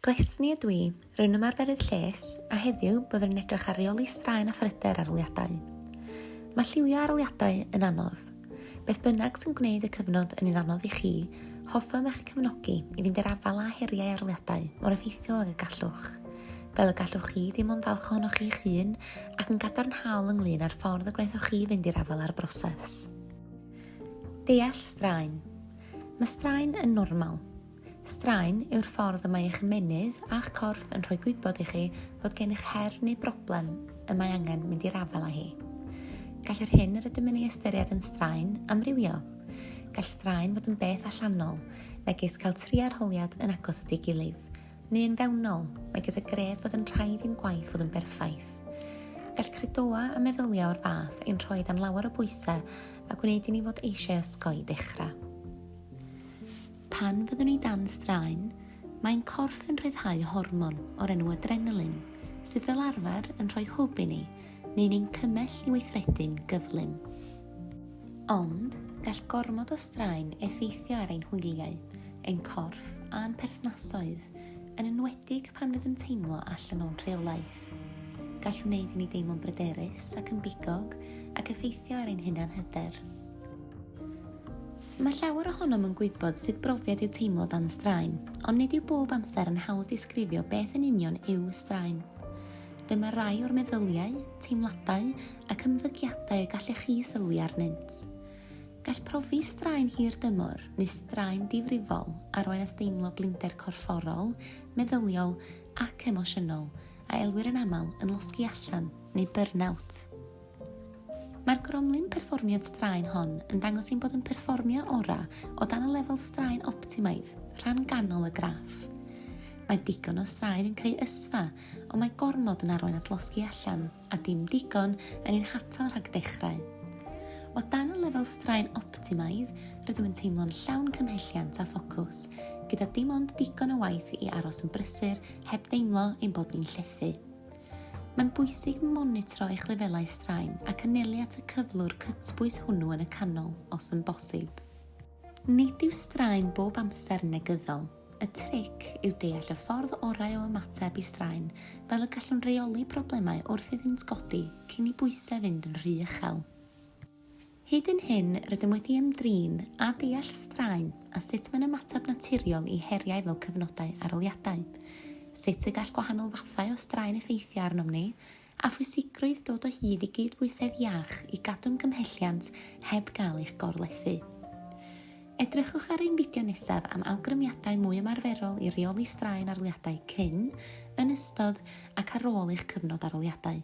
Glesni ydw i, rwy'n ymarferydd lles, a heddiw, byddwn yn edrych ar reoli straen a phryder arholiadau. Mae lliwio arholiadau yn anodd. Beth bynnag sy'n gwneud y cyfnod yn un anodd i chi, hoffem eich cefnogi i fynd i'r afael â heriau arholiadau mor effeithiol ag y gallwch. Fel y gallwch chi deimlo'n falch ohonoch chi'ch hun ac yn gadarnhaol ynglyn â'r ffordd y gwnaethoch chi fynd i'r afael â'r broses. Deall straen. Mae straen yn normal. Straen yw'r ffordd y mae eich ymennydd a'ch corff yn rhoi gwybod i chi fod gennych her neu broblem y mae angen mynd i'r afael â hi. Gall yr hyn yr ydym yn ei ystyried yn straen amrywio. Gall straen fod yn beth allanol, megis cael tri arholiad yn agos at ei gilydd, neu yn fewnol, megis y gred bod yn rhaid i'n gwaith fod yn berffaith. Gall credoau a meddyliau o'r fath ein rhoi dan lawer o bwysau a gwneud i ni fod eisiau osgoi dechrau. Pan fyddwn ni dan straen, mae'n corff yn rhyddhau hormon o'r enw adrenalin, sydd fel arfer yn rhoi hwb i ni neu'n ein cymell i weithredu'n gyflym. Ond, gall gormod o straen effeithio ar ein hwyliau, ein corff a'n perthnasoedd, yn enwedig pan fydd yn teimlo allan o'n rheolaeth. Gall wneud i ni deimlo'n bryderus ac yn bigog ac effeithio ar ein hunanhyder. Mae llawer ohonom yn gwybod sut brofiad yw teimlo dan straen, ond nid yw bob amser yn hawdd disgrifio beth yn union yw straen. Dyma rai o'r meddyliau, teimladau ac ymddygiadau y gallech chi sylwi arnynt. Gall profi straen hir dymor neu straen difrifol arwain at deimlo blinder corfforol, meddyliol ac emosiynol, a elwir yn aml yn losgi allan neu burn-out. Mae'r gromlin perfformiad straen hon yn dangos ein bod yn perfformio orau o dan y lefel straen optimaidd, rhan ganol y graff. Mae digon o straen yn creu ysfa, ond mae gormod yn arwain at losgi allan, a dim digon yn ein hatal rhag dechrau. O dan y lefel straen optimaidd, rydym yn teimlo'n llawn cymhelliant a ffocws, gyda dim ond digon o waith i aros yn brysur heb deimlo ein bod ni'n llethu. Mae'n bwysig monitro eich lefelau straen ac anelu at y cyflwr cytbwys hwnnw yn y canol, os yn bosib. Nid yw straen bob amser yn negyddol. Y tric yw deall y ffordd orau o ymateb i straen, fel y gallwn reoli problemau wrth iddynt godi cyn i bwysau fynd yn rhy uchel. Hyd yn hyn, rydym wedi ymdrin â deall straen a sut mae'n ymateb naturiol i heriau fel cyfnodau arholiadau, sut y gall gwahanol fathau o straen effeithio arnom ni, a phwysigrwydd dod o hyd i gydbwysedd iach i gadw'n gymhelliant heb gael eich gorlethu. Edrychwch ar ein fideo nesaf am awgrymiadau mwy ymarferol i reoli straen arholiadau cyn, yn ystod ac ar ôl eich cyfnod arholiadau.